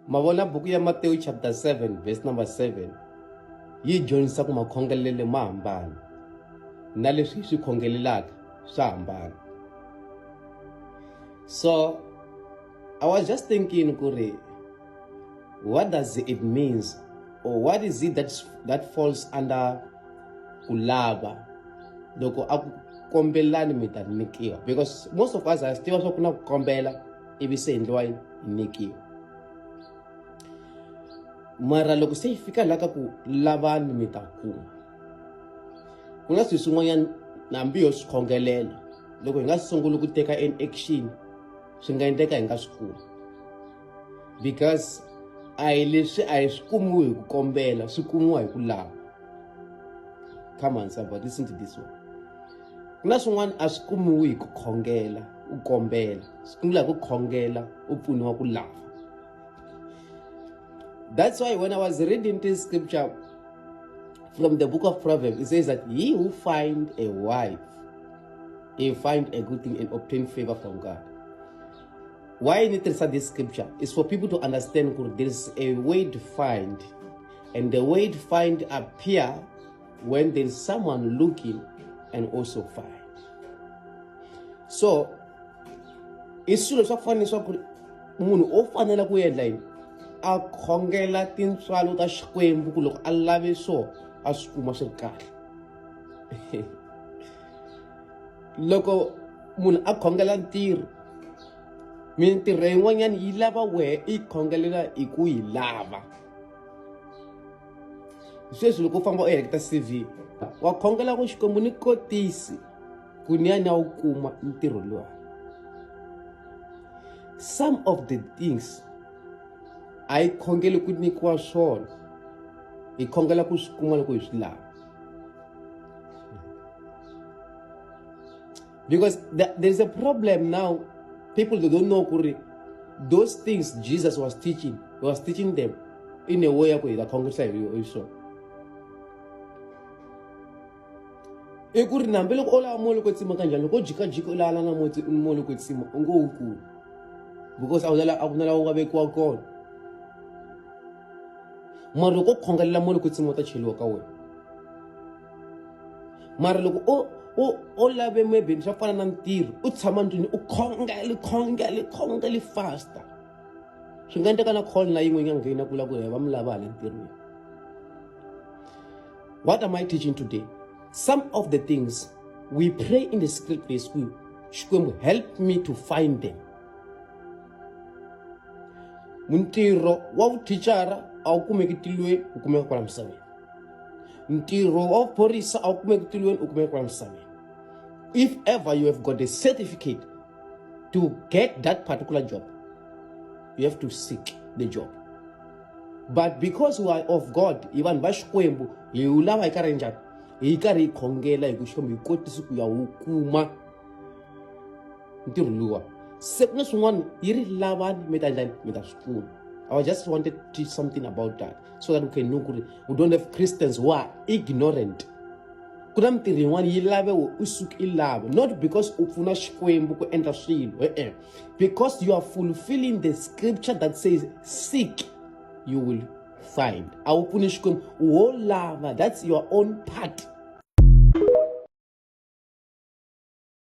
ma vona buku ya matewu chapter 7 verse number 7 yi dyondzisa ku makhongelele ma hambana na leswi hi swi khongelelaka swa hambana so i was just thinking ku ri what does it means or what is it that, that falls under ku lava loko a ku kombelani mi ta nyikiwa because most of us a swi tiva swa ku na ku kombela ivi se endliwa yi nyikiwa mara loko se yi fika laha ka ku lavani mi ta kuma ku nga swi swin'wanyana nambi yo swi khongelela loko hi nga sunguli ku teka an action swi nga endleka hi nga swi kumi because a hi leswi a hi swi kumiwi hi ku kombela swi kumiwa hi ku lava come on somebody listen to this one ku na swin'wana a swi kumiwi hi ku khongela u kombela swi kumela hi ku khongela u pfuniwa ku lava that's why when i was reading this scripture from the book of proverbs it says that he who find a wife he find a good thing and obtain favor from god why ni tirhisa this scripture is for people to understand ku there's a way to find and the way to find appear When there's someone looking and also find. So, i swilo swa ku fana leswaku munhu o fanela ku endla yini a khongela tintswalo ta xikwembu ku loko a lave swo a swi kuma swi ri kahle loko munhu a khongela ntirho mintirho yin'wanyana yi lava wehe i khongelela hi ku yi lava sweswi loko u famba u heleketa cv wa khongela ku xikwembu ni kotisi ku ni ya ni ya wu kuma ntirho luwa some of the things a yi khongeli ku nyikiwa swona hi khongela ku swi kuma loko hi swi lava because the, there is a problem now people they don't know kuri those things jesus was teaching he was teaching them in a way yako ikakhongesa hiswona i ku ri nambe loko o lava moli ko tsima kanjhani loko o jikajika u lavana moti moli ko tsima u ngo wu kulu because a ku na a ku na lawa u nga vekiwa kona mara loko u khongelela moli ko tsima u ta cheliwa ka wena mara loko o o o lave maybe swa fana na ntirho u tshama ndlwini u khongele khongele khongele fasta swi nga endleka na call na yin'we yi nga nghena ku la ku va mi lava hala ntirhweni what am i teaching today some of the things we pray in the secret place ku xikwembu help me to find them muntirho wa vuthicara a wu kumeki tilweni wu kumeka kwala misaveni ntirho wa vuphorisa a wu kumeki tilweni u kumeka kwala misaveni if ever you have got a certificate to get that particular job you have to seek the job but because we are of god hi vanhu va xikwembu hi wu lava hi karhi njhani hi karhi hi khongela hi ku xikwembu hi kotisi ku ya wu kuma ntirho luwa se ku na swin'wana yi ri lavani mi ta njhani mi ta swi pfuna i just wanted to teach something about that so that we can know ku ri we don't have christians who are ignorant ku na mintirho yin'wana yi lave we u suke i lava not because u pfuna xikwembu ku endla swilo e-e because you are fulfilling the scripture that says seek you will find a wu pfuni xikwembu wo lava that's your own part